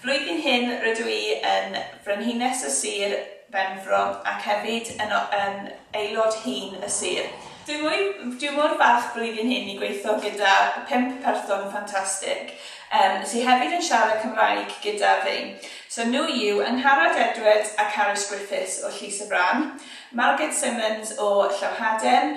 Flwyddyn hyn rydw i yn Frenhines y Sir Benfro ac hefyd yn yn aelod hŷn y Sir. Dwi mwy dwi mor falch flwyddyn hyn i gweitho gyda pump person ffantastig yym sy hefyd yn siarad Cymraeg gyda fi. So nhw yw Angharad Edwards a Carys Griffiths o Llys y Fran, Margaret Simmons o Llawhaden,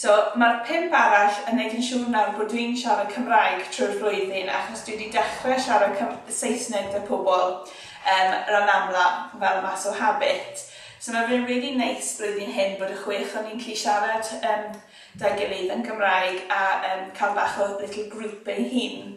So mae'r pump arall yn wneud yn siŵr nawr bod dwi'n siarad Cymraeg trwy'r flwyddyn achos dwi wedi dechrau siarad Cym Saesneg 'da pobl um, ran amla fel mas o habit. So mae fe'n really neis blwyddyn hyn bod y chwech o ni'n gallu siarad um, 'da gilydd yn Gymraeg a um, cael bach o little group ein hun.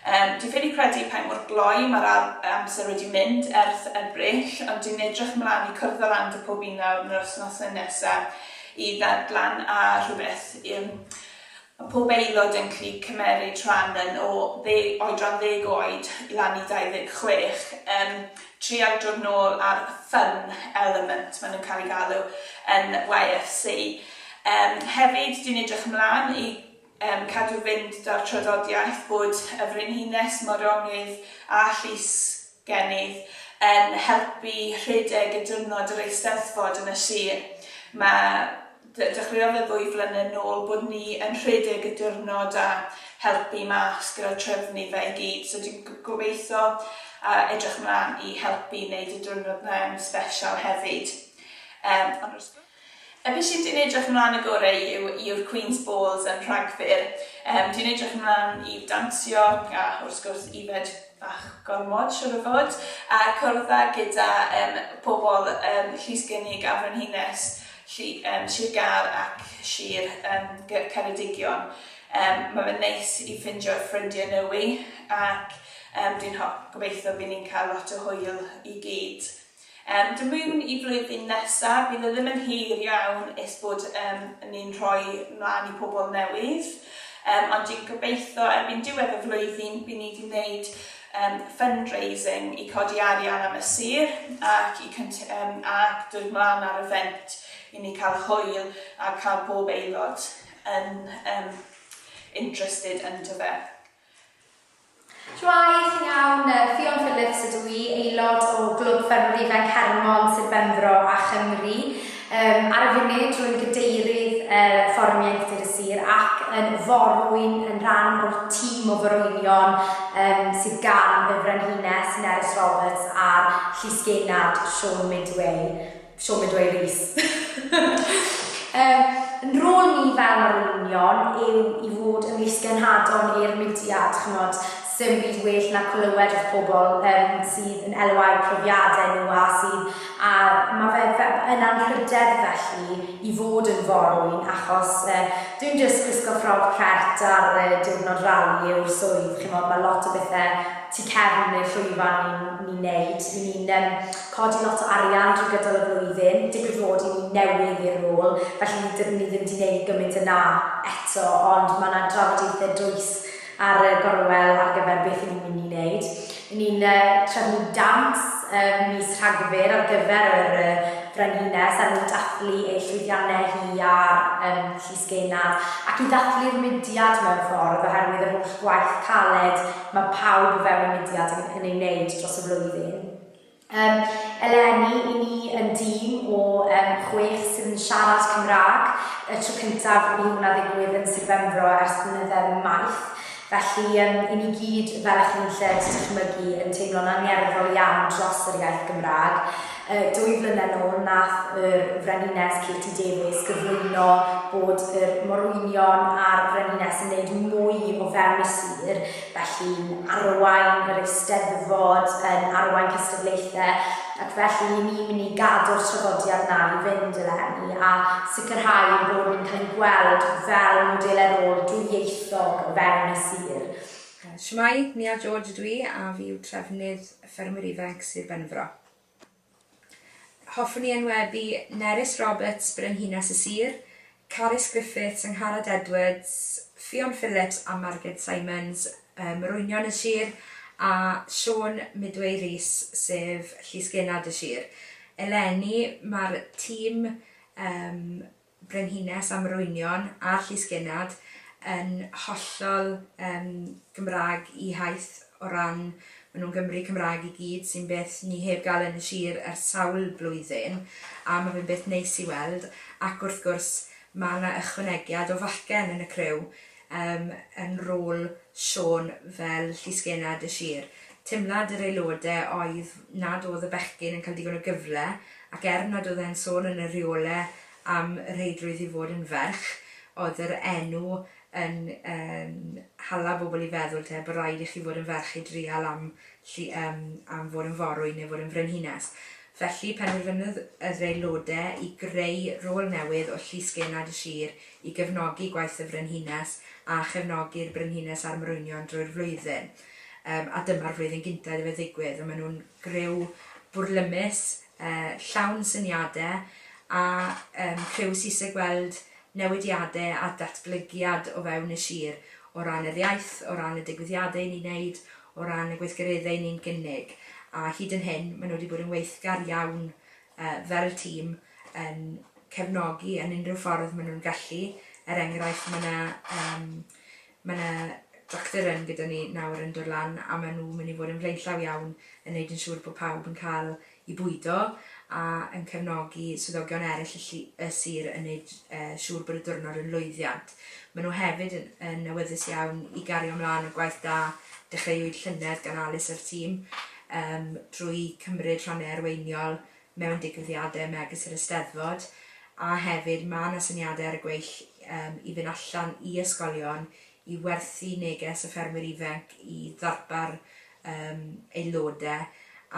Yym, dwi ffili credu pa mor gloi mae'r ar- amser wedi mynd erth Ebrill, ond dwi'n edrych mlan i cwrdd â Rand a pob un nawr yn yr wsnose nesa i ddarglan a rhywbeth yym ma' pob aelod yn clu cymeryd rhan yn o dde- oedran ddeg oed lan i dau ddeg chwech yn trial dod nôl ar fun element ma' nhw'n cael ei galw yn YFC. Yym, hefyd dwi'n edrych mlan i yn cadw fynd da'r traddodiaeth bod y Frenhines, Moronydd a Llysgennydd yn helpu rhedeg y diwrnod yr Eisteddfod yn y sir. Mae, de- dechreuodd e ddwy flynedd nôl bod ni yn rhedeg y diwrnod a helpu mas gyda trefnu fe i gyd so dwi'n g- gobeitho a edrych mlan i helpu neud y diwrnod 'na yn sbeshal hefyd. Yym ond wrth gwrs. Yy be sydd dwi'n edrych ymlaen y gore i yw i'r Queen's Balls yn Rhagfyr. Yym dwi'n edrych ymlaen i dansio a wrth gwrs yfed bach gormod siŵr o fod a cwrdd a gyda yym pobl yym Llys Gynnig a Frenhines llu- yym Sir Gâr ac Sir yym Gy- Ceredigion. Yym ma' fe'n neis i ffindio ffrindie nywi ac yym dwi'n ho- gobeitho by' ni'n ca'l lot o hwyl i gyd. Yn dod mewn i flwyddyn nesa, bydd e ddim yn hir iawn est bod yn ni'n rhoi mlaen i pobl newydd, ond dwi'n gobeithio erbyn diwedd y flwyddyn bydd ni wedi gwneud fundraising i codi arian am y sir ac i ac dod mlaen ar y fent i ni cael hwyl a cael pob aelod yn interested ynddo fe. Chwaith, Iawn, Ffion Phillips ydw i, aelod o Glwb Ffermwyr Ifanc Hermon, Sir Benfro a Chymru. Yym, ar y funud, rwy'n Gadeirydd yy Fforwm Ieuenctid y Sir ac yn forwyn yn rhan o'r tîm o forwynion yym sydd gan y Frenhines, Nerys Roberts a'r Llysgennad, Siôn Midway. siom yn dweud Rees. Yn rôl ni fel mae'r olwynion yw i fod yn lysgenhadon i'r mudiad, ch'mod, sdim byd well na clywed wrth pobl yym sydd yn elwa eu profiadau nhw a sydd a ma' fe fe- yn anrhydedd felly i fod yn forwyn achos yy dim jyst gwisgo ffrog cert ar yy diwrnod rali yw'r swydd ch'mod ma' lot o bethe tu cefn y llwyfan ni'n ni'n neud, 'yn ni'n yym codi lot o arian drwy gydol y flwyddyn, digwydd fod i ni newydd i'r rôl, felly dydyn ni ddim 'di neud gymint a 'na eto, ond ma' 'na drafodaethe dwys ar y gorwel ar gyfer beth 'yn ni'n mynd i neud. 'Yn ni'n trefnu dawns ym mis Rhagfyr ar gyfer yr Frenhines er mwyn dathlu ei llwyddiannau hi ar Llys Genarth, ac i ddathlu'r mudiad mewn ffordd, oherwydd yr holl waith caled ma' pawb o fewn y mudiad yn ei wneud dros y flwyddyn. Yym, eleni, i ni yn dîm o yym chwech sydd yn siarad Cymraeg, y tro cyntaf i hwnna ddigwydd yn Sir Benfro ers blynydde maith, felly yym i ni gyd, fel y'ch chi'n lled dychmygu, yn teimlo'n angerddol iawn dros yr iaith Gymraeg. Yy, dwy flynedd nôl, nath yr Frenhines Katie Davies gyflwyno bod yr morwynion a'r Frenhines yn neud mwy o fewn y sir, Felly'n arwain yr Eisteddfod, yn arwain cystadlaethau, ac felly i ni mynd i gadw'r traddodiad 'na i fynd eleni, a sicrhau ein bod ni'n cael ein gweld fel modelau rôl dwyieithog o fewn y sir. Shwmae, Nia George ydw i a fi yw trefnydd y Ffermwyr Ifanc Sir Benfro. Hoffwn i enwebu Nerys Roberts, Brenhines y Sir, Carys Griffiths, Angharad Edwards, Ffion Phillips a Marged Simons, Morwynion y Sir, a Siôn Midway Rees, sef Llysgennad y Sir. Eleni, mae'r tîm Brenhines a Morwynion a'r Llysgennad yn hollol yym Gymraeg i haith o ran ma' nhw'n Gymry Cymraeg i gyd sy'n beth ni heb gael yn y sir ers sawl blwyddyn a ma' fe'n beth neis i weld ac wrth gwrs ma' 'na ychwanegiad o fachgen yn y criw yym yn rôl Siôn fel llysgennad y sir. Teimlad yr aelode oedd nad oedd y bechgyn yn cael digon o gyfle ac er nad oedd e'n sôn yn y rheole am rheidrwydd i fod yn ferch, oedd yr enw yn hala bobl i feddwl te bod raid i chi fod yn ferch i drial am am fod yn forwyn neu fod yn frenhines. Felly penderfynodd yr aelode i greu rôl newydd o llysgennad y sir i gefnogi gwaith y Frenhines a chefnogi'r Brenhines a'r Morwynion drwy'r flwyddyn. Yym a dyma'r flwyddyn gynta iddo fe ddigwydd a maen nhw'n griw bwrlymus, yy llawn syniade a yym criw sy isie gweld newidiade a datblygiad o fewn y sir o ran yr iaith, o ran y digwyddiade i ni'n neud, o ran y gweithgaredde i ni'n gynnig a hyd yn hyn maen nhw wedi bod yn weithgar iawn fel tîm yn cefnogi yn unrhyw ffordd maen nhw'n gallu. Er enghraifft, mae yna um, mae yna tractor yn gyda ni nawr yn dod lan a maen nhw'n mynd i fod yn flaenllaw iawn yn gwneud yn siŵr bod pawb yn cael i bwydo a yn cefnogi swyddogion eraill y, lli, y sir yn gwneud uh, siŵr bod y diwrnod yn lwyddiant. Maen nhw hefyd yn, yn awyddus iawn i gario ymlaen y gwaith da dechreuwyd llynedd gan Alice a'r tîm yym drwy cymryd rhan yn arweiniol mewn digwyddiadau megis yr Eisteddfod a hefyd mae 'na syniadau ar y gweill yym i fynd allan i ysgolion i werthu neges y ffermwyr ifanc i ddarpar yym aelodau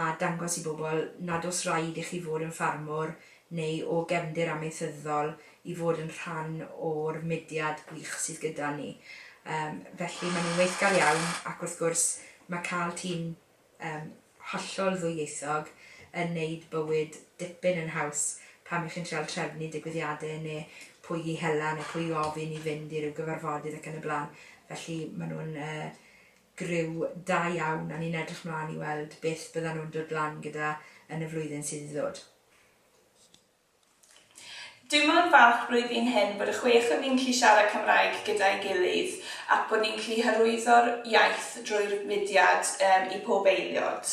a dangos i bobl nad oes rhaid i chi fod yn ffarmwr neu o gefndir amaethyddol i fod yn rhan o'r mudiad gwych sydd gyda ni. Yym, felly, maen nhw'n weithgar iawn, ac wrth gwrs, mae cael tîm yym hollol ddwyieithog yn wneud bywyd dipyn yn haws pan y'ch chi'n treial trefnu digwyddiadau neu pwy i hela neu pwy i ofyn i fynd i ryw gyfarfodydd ac yn y blaen. Felly, maen nhw'n yy griw da iawn a ni'n edrych mlaen i weld beth byddan nhw'n dod lan gyda yn y flwyddyn sydd i ddod. Dwi mor falch blwyddyn hyn bod y chwech o ni'n gallu siarad Cymraeg gyda'i gilydd ac bod ni'n gallu hyrwyddo'r iaith drwy'r mudiad i pob eiliod.